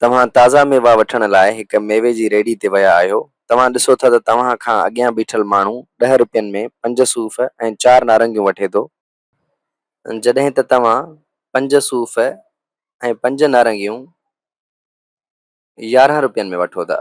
توهان تازا ميوا وٺڻ لاء هڪ ميوي جي ريڙهي تي ويا آهيو. توهان ڏسو ٿا ته توهان کان اڳيان بيٺل ماڻهو ڏهه روپين ۾ پنج صوف ۽ چار نارنگيون وٺي ٿو، جڏهن ته توهان پنج صوف ۽ پنج نارنگيون يارهن روپين ۾ وٺو ٿا.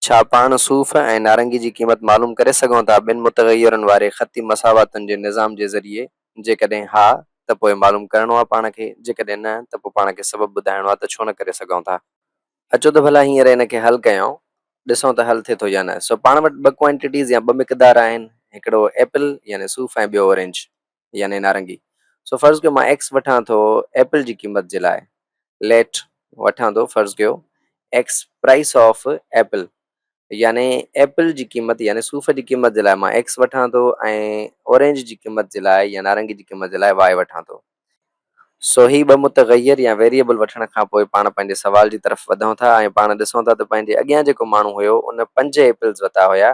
ڇا پاڻ صوف ۽ نارنگي جي قيمت معلوم ڪري سگهون ٿا ٻن متغيرن واري خطي مساواتن جي نظام جي ذريعي؟ جيڪڏهن ها ته پوء معلوم ڪرڻو آهي پاڻ کي، جيڪڏهن نه ته پوء پاڻ کي سبب ٻڌائڻو آهي ته ڇو نه ڪري سگهون ٿا. اچو ته ڀلا هينئر ان کي حل ڪيائون، ڏسون ته حل ٿئي ٿو يا نه. سو پاڻ وٽ ٻه ڪوانٽيٽيز يا ٻه مقدار آهن، هڪڙو ايپل يعني صوف ۽ ٻيو اورينج. يعني نارنگي سو فرض ڪيو مان ايڪس وٺان ٿو ايپل جي قيمت جي لاء ليٽ وٺان ٿو فرض ڪيو ايڪس پرائس آف ايپل يعني ايپل جي قيمت يعني صوف جي قيمت جي لاء مان ايڪس وٺان ٿو ۽ اورينج جي قيمت جي لاء يا نارنگي جي قيمت جي لاء واء وٺان ٿو سو هي ٻه متغير يا ويريبل وٺڻ کان پوء پاڻ پنهنجي سوال جي طرف وڌون ٿا ۽ پاڻ ڏسون ٿا ته پنهنجي اڳيان جيڪو ماڻهو هيو ان پنج ايپلز وتا هيا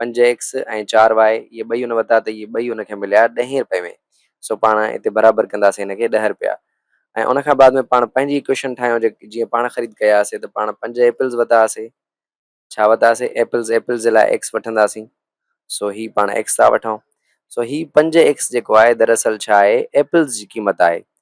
پنج ايڪس ۽ چار واء اهي ٻئي ان وتا ته اهي ٻئي ان کي مليا ڏهين رپئي ۾ سو پاڻ اتي برابر ڪنداسين ان کي ڏهه رپيا ۽ ان کان بعد ۾ پاڻ پنهنجي ايڪوئيشن ٺاهيون جي جيئن پاڻ خريد ڪيا هئاسين ته پاڻ پنج ايپلز وتا هئاسين ڇا وتا هئاسين ايپلز ايپلز جي لاء ايڪس وٺنداسين سو هي پاڻ ايڪس ٿا وٺون سو هي پنج ايڪس جيڪو آهي دراصل ڇا آهي ايپلز جي قيمت آهي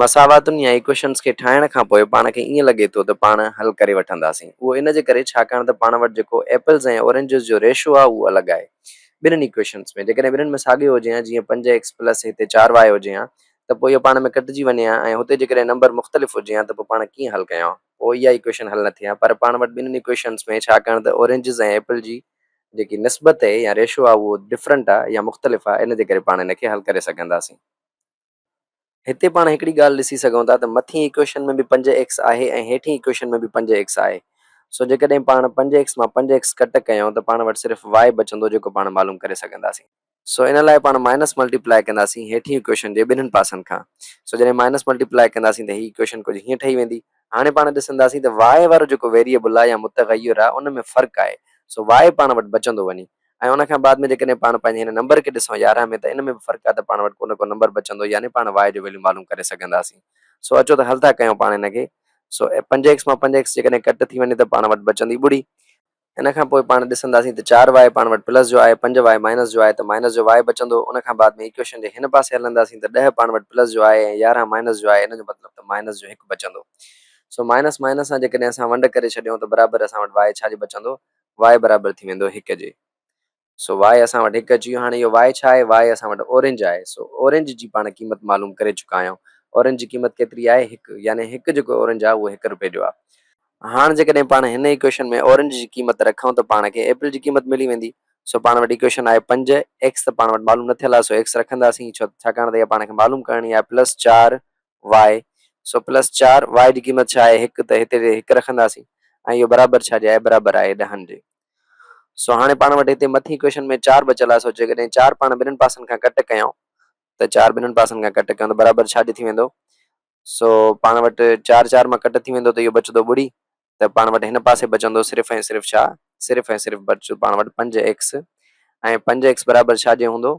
مساواتن يا ايڪوئيشنز کي ٺاهڻ کان پوء پاڻ کي ائين لڳي ٿو ته پاڻ حل ڪري وٺنداسين. اهو ان جي ڪري ڇاڪاڻ ته پاڻ وٽ جيڪو ايپلز ۽ اورينجز جو ريشو آهي اهو الڳ آهي ٻنهن ايڪوئيشنز ۾. جيڪڏهن ٻنهن ۾ ساڳيو هجي ها جيئن پنج ايڪس پلس هتي چار واء هجي ها ته پوء اهي پاڻ ۾ ڪٽجي وڃي ها ۽ هتي جيڪڏهن نمبر مختلف هجي ها ته پوء پاڻ ڪيئن حل ڪيون ها؟ پوء اها ايڪوئيشن حل نه ٿئي ها. پر پاڻ وٽ ٻنهن ايڪوئيشنز ۾ ڇاڪاڻ ته اورينجز ۽ ايپل جي جيڪي نسبت اهي يا ريشو آهي اهو ڊفرنٽ آهي يا مختلف آهي ان جي ڪري پاڻ ان کي حل ڪري سگهنداسين. هتي پاڻ هڪڙي ڳالهه ڏسي سگهون ٿا ته مٿين ايڪويشن ۾ به پنج ايڪس آهي ۽ هيٺين ايڪويشن ۾ به پنج ايڪس آهي. سو جيڪڏهن پاڻ پنج ايڪس مان پنج ايڪس ڪٽ ڪيون ته پاڻ وٽ صرف وائي بچندو جيڪو پاڻ معلوم ڪري سگهنداسين. سو ان لاء پاڻ مائنس ملٽي پلائي ڪنداسين هيٺين ايڪويشن جي ٻنهن پاسن کان. سو جڏهن مائنس ملٽي پلائي ڪنداسين ته هي ايڪويشن ڪجهه هيئن ٺهي ويندي. هاڻي پاڻ ڏسنداسين ته وائي وارو جيڪو ويريبل آهي يا متغير آهي ان ۾ فرق آهي. سو وائي پاڻ وٽ بچندو وڃي. ۽ ان کان بعد ۾ جيڪڏهن پاڻ پنهنجي هن نمبر کي ڏسون يارهن ۾ ته ان ۾ به فرق آهي ته پاڻ وٽ ڪو نه ڪو نمبر بچندو يعني پاڻ y جو ويليو معلوم ڪري سگهنداسين سو اچو ته حل ٿا ڪيون پاڻ ان کي سو پنج ايڪس مان پنج ايڪس جيڪڏهن ڪٽ ٿي وڃي ته پاڻ وٽ بچندي ٻڙي ان کان پوء پاڻ ڏسنداسين ته چار واء پاڻ وٽ پلس جو آهي پنج واء مائنس جو آهي ته مائنس جو واء بچندو ان کان بعد ۾ ايڪويشن جي هن پاسي هلنداسين ته ڏهه پاڻ وٽ پلس جو آهي ۽ يارهن مائنس جو آهي ان جو مطلب ته مائنس جو هڪ بچندو سو مائنس مائنس سان جيڪڏهن اسان ونڊ ڪري ڇڏيون ته برابر اسان وٽ واء ڇا جو بچندو واء برابر ٿي ويندو هڪ جي سو واء اسان وٽ هڪ اچي ويو هاڻي اهو واء ڇا آهي واء اسان وٽ اورينج آهي سو اورينج جي پاڻ قيمت معلوم ڪري چڪا آهيون اورينج جي قيمت ڪيتري آهي هڪ يعني هڪ جيڪو اورينج آهي اهو هڪ رپئي جو آهي هاڻ جيڪڏهن پاڻ هن ايڪويشن ۾ اورينج جي قيمت رکون ته پاڻ کي ايپل جي قيمت ملي ويندي سو پاڻ وٽ ايڪويشن آهي پنج ايڪس ته پاڻ وٽ معلوم نه ٿيل آهي سو ايڪس رکنداسين ڇو ته ڇاڪاڻ ته اها پاڻ کي معلوم ڪرڻي آهي پلس چار واء سو پلس چار واء جي قيمت ڇا آهي هڪ ته هتي هڪ رکنداسين ۽ اهو برابر ڇا جي آهي برابر آهي ڏهن جي سو هاڻي پاڻ وٽ هتي مٿين اڪويشن ۾ چار بچيل آهي سو جيڪڏهن چار پاڻ ٻنهن پاسن کان ڪٽ ڪيائون ته چار ٻنهن پاسن کان ڪٽ ڪيائون ته برابر ڇا جي ٿي ويندو سو پاڻ وٽ چار چار مان ڪٽ ٿي ويندو ته اهو بچندو ٻڙي ته پاڻ وٽ هن پاسي بچندو صرف ۽ صرف ڇا؟ صرف ۽ صرف بچ پاڻ وٽ پنج ايڪس ۽ پنج ايڪس برابر ڇا جي هوندو؟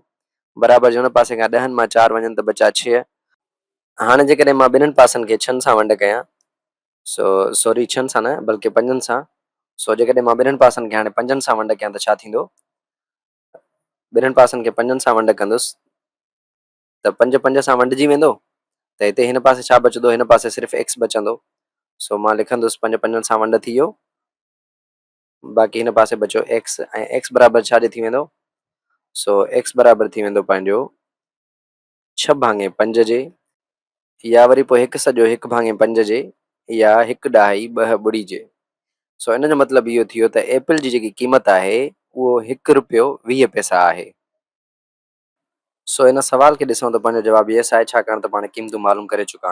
برابر جي هن پاسي کان ڏهن مان چار وڃن ته بچا ڇهه. هاڻي جيڪڏهن مان ٻنهن پاسن کي ڇهن سان ونڊ ڪيان سو سوري ڇهن سان نه بلڪه پنجن سان سو جيڪڏهن مان ٻنهن پاسن کي هاڻي پنجن سان ونڊ ڪيان ته ڇا ٿيندو؟ ٻنهن پاسن کي پنجن سان ونڊ ڪندس ته پنج پنج سان ونڊجي ويندو ته هتي هن پاسي ڇا بچندو هن پاسي صرف ايڪس بچندو سو مان لکندس پنج پنجن سان ونڊ ٿي ويو باقي هن پاسي بچو ايڪس ۽ ايڪس برابر ڇا جي ٿي ويندو سو ايڪس برابر ٿي ويندو پنهنجو ڇهه ڀاڱي پنج جي يا وري پوء هڪ سڄو هڪ ڀاڱي پنج جي يا هڪ ڏهائي ٻه ٻڙي جي سو ان جو مطلب اهو ٿيو ته ايپل جي جيڪي قيمت آهي اهو هڪ روپيو ويهه پئسا آهي سو ان سوال کي ڏسون ته پنهنجو جواب يس آهي ڇاڪاڻ ته پاڻ قيمتون معلوم ڪري چڪا آهيون.